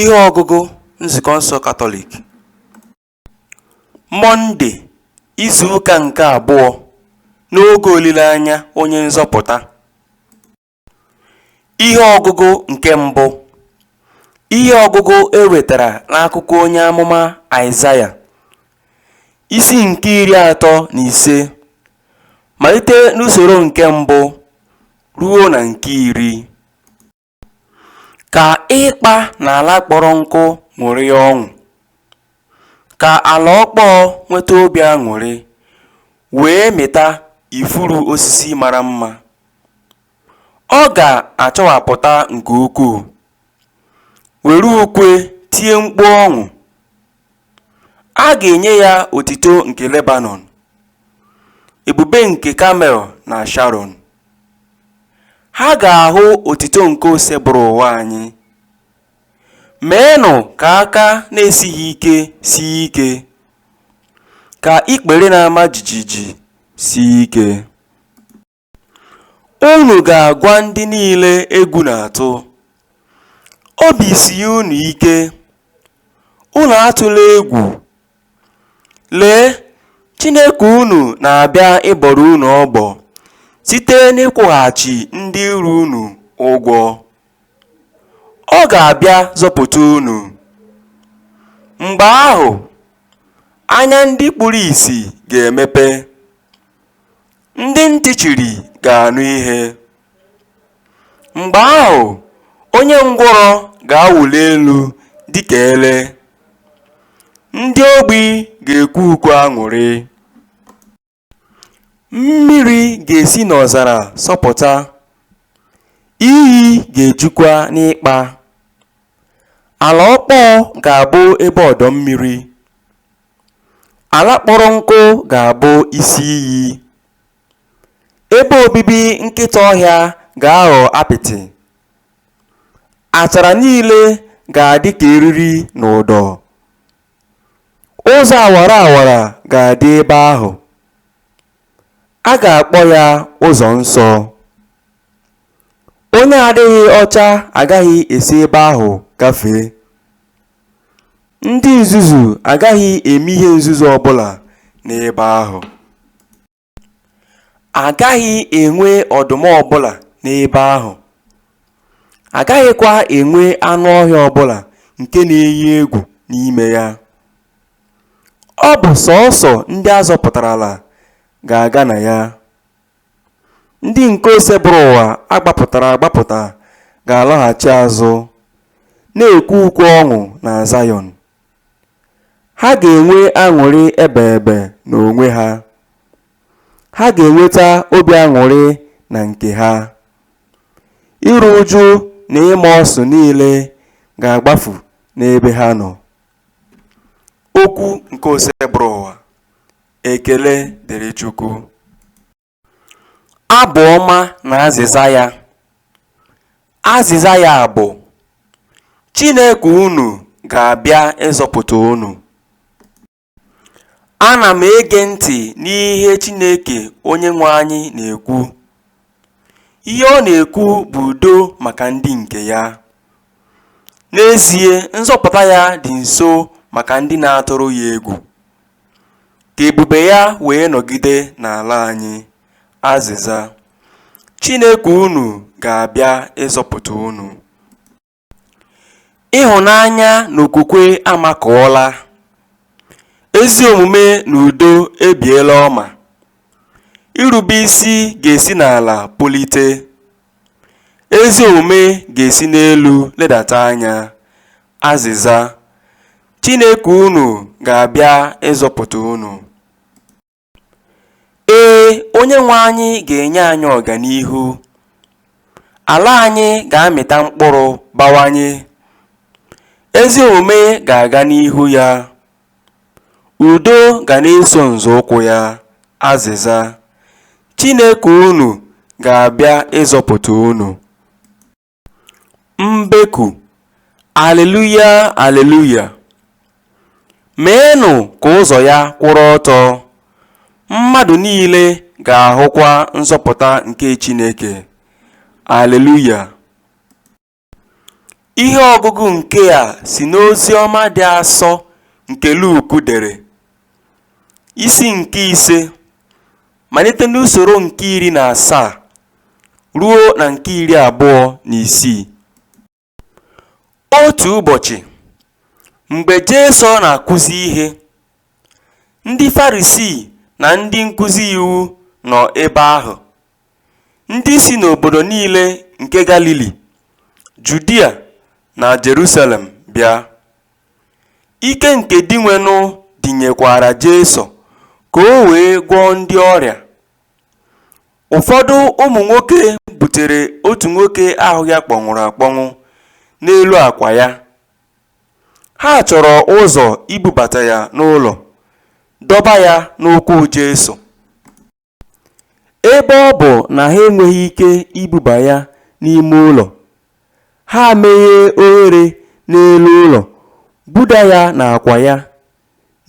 Ihe ọgụgụ Nzukọ nsọ Katọlik Mọnde izu ụka nke abụọ n'oge olileanya onye nzọpụta Ihe ọgụgụ nke mbụ Ihe ọgụgụ e wetara n'akwụkwọ onye amụma Aịzaya isi nke iri atọ na ise malite n'usoro nke mbụ ruo na nke iri. Ka ịkpa na ala kpọrọ nkụ ṅụrịa ọṅụ, ka ala ọkpọọ nweta obi aṅụrị wee mịta ifuru osisi mara mma. Ọ ga-achawapụta nke ukwuu, were ukwe tie mkpu ọṅụ, A ga-enye ya otito nke Lebanọn, ebube nke Kamel na Sharọn. Ha ga-ahụ otito nke Osebụrụwa anyị. Meenụ ka aka na-esighị ike sie ike, ka ikpere na-ama jijiji sie ike. Unu ga-agwa ndị niile egwu na-atụ, Obi sie unu ike, unu atụla egwu. Lee, Chineke unu na-abịa ịbọrọ unu ọbọ site n'ịkwụghachi ndị iro unu ụgwọ. Ọ ga-abịa zọpụta unu. Mgbe ahụ, anya ndị kpuru ìsì ga-emepe, Ndị ntị chiri ga-anụ ihe. Mgbe ahụ, onye ngwụrọ ga-awụli elu dị ka ele. Ndị ogbi ga-ekwe ukwe aṅụrị. Mmiri ga-esi n'ọzara sọpụta, iyi ga-ejukwa n'ịkpa. Ala ọkpọọ ga-abụ ebe ọdọ mmiri. Ala kpọrọ nkụ ga-abụ isi iyi, ebe obibi nkịta ọhịa ga-aghọ apịtị, achara niile ga-adị ka eriri na ụdọ, ụzọ awara awara ga-adị ebe ahụ, a ga-akpọ ya ụzọ nsọ. Onye adịghị ọcha agaghị esi ebe ahụ gafee. Ndị nzuzu agaghị eme ihe nzuzu ọ bụla n'ebe ahụ. Agaghị enwe ọdụm ọ bụla n'ebe ahụ. Agaghịkwa enwe anụ ọhịa ọ bụla nke na-eyi egwu n'ime ya. Ọ bụ sọọsọ ndị a zọpụtarala ga-aga na ya. Ndị nke Osebụrụwa gbapụtara agbapụta ga-alọghachi azụ, na-ekwe ukwe ọṅụ na Zayọn. Ha ga-enwe aṅụrị ebeebe n'onwe ha. Ha ga-enweta obi aṅụrị na nke ha. Iru uju na ịma ọsụ niile ga-agbafu n'ebe ha nọ. Okwu nke Osebụrụwa Ekele dịrị Chukwu. Abụ ọma na azịza ya. Azịza ya bụ, Chineke unu ga-abịa ịzọpụta unu. Ana m ege ntị n'ihe Chineke Onyenwe anyị na-ekwu. Ihe ọ na-ekwu bụ udo maka ndị nke ya. N'ezie, nzọpụta ya dị nso maka ndị na-atụrụ ya egwu. Ka ebube ya wee nọgide n'ala anyị. Azịza. Chineke unu ga-abịa ịzọpụta unu. Ịhụnanya na okwukwe amakụọla, ezi omume na udo ebiela ọma, irube isi ga-esi n'ala pulite, ezi omume ga-esi n'elu ledata anya. Azịza. Chineke unu ga-abịa ịzọpụta unu. Ee, Onyenwe anyị ga-enye anyị ọganihu. Ala anyị ga-amịta mkpụrụ bawanye. Ezi omume ga-aga n'ihu ya. Udo ga na-eso nzọụkwụ ya. Azịza, Chineke unu ga-abịa ịzọpụta unu. Mbeku, Aleluya, aleluya! Meenụ ka ụzọ ya kwụrụ ọtọ, mmadụ niile ga-ahụkwa nzọpụta nke Chineke. Aleluya! Ihe ọgụgụ nke a si n'Oziọma dị asọ nke Luk dere. Isi nke ise, malite n'usoro nke iri na asaa ruo na nke iri abụọ na isii. Otu ụbọchị, mgbe Jesu na-akụzi ihe, ndị Farisii na ndị nkụzi iwu nọ ebe ahụ. Ndị si n'obodo niile nke Galili, Judia na Jerusalem bịa. Ike nke Dinwenụ dịnyekwaara Jesu ka o wee gwọọ ndị ọrịa. Ụfọdụ ụmụ nwoke butere otu nwoke ahụ ya kpọnwụrụ akpọnwụ n'elu akwa ya. Ha chọrọ ụzọ ibubata ya n'ụlọ, dọba ya n'ụkwụ Jesu. Ebe ọ bụ na ha enweghị ike ibuba ya n'ime ụlọ, ha meghee oghere n'elu ụlọ buda ya n'akwa ya,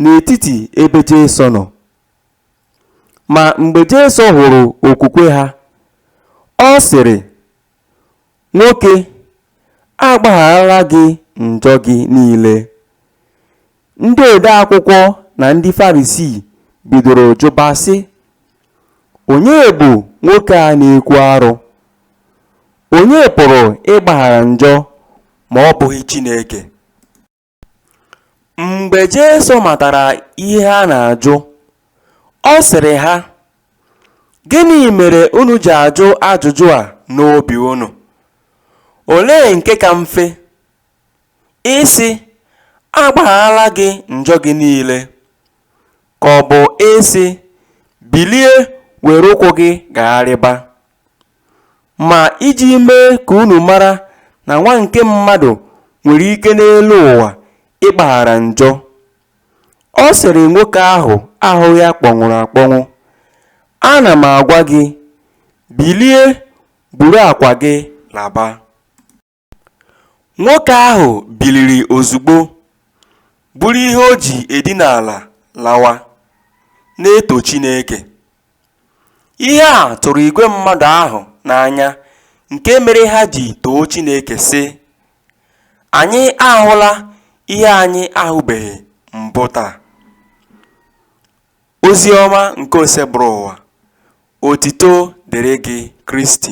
n'etiti ebe Jesu nọ. Ma mgbe Jesu hụrụ okwukwe ha, ọ sịrị, Nwoke, a gbagharala gị njọ gị niile. Ndị odeakwụkwọ na ndị Farisii bidoro jụba sị, Onye bụ nwoke a na-ekwu arụ? Onye pụrụ ịgbaghara njọ ma ọ bụghị Chineke? Mgbe Jesu matara ihe ha na-ajụ, ọ sịrị ha, Gịnị mere unu ji ajụ ajụjụ a n'obi unu? Olee nke ka mfe, Ịsị, A gbagharala gị njọ gị niile? Ka ọ bụ ịsị, Bilie were ụkwụ gị gagharịba? Ma iji mee ka unu mara na Nwa nke Mmadụ nwere ike n'elu ụwa ịgbaghara njọ, ọ sịrị nwoke ahụ ahụ ya kpọnwụrụ akpọnwụ, Ana m agwa gị, bilie, buru akwa gị laba. Nwoke ahụ biliri ozugbo, buru ihe o ji edina ala lawa, na-eto Chineke. Ihe a tụrụ igwe mmadụ ahụ n'anya nke mere ha ji too Chineke, sị, Anyị ahụla ihe anyị ahụbeghị mbụ taa! Ozi ọma nke Osebụrụwa. Otito dịrị gị, Kristi.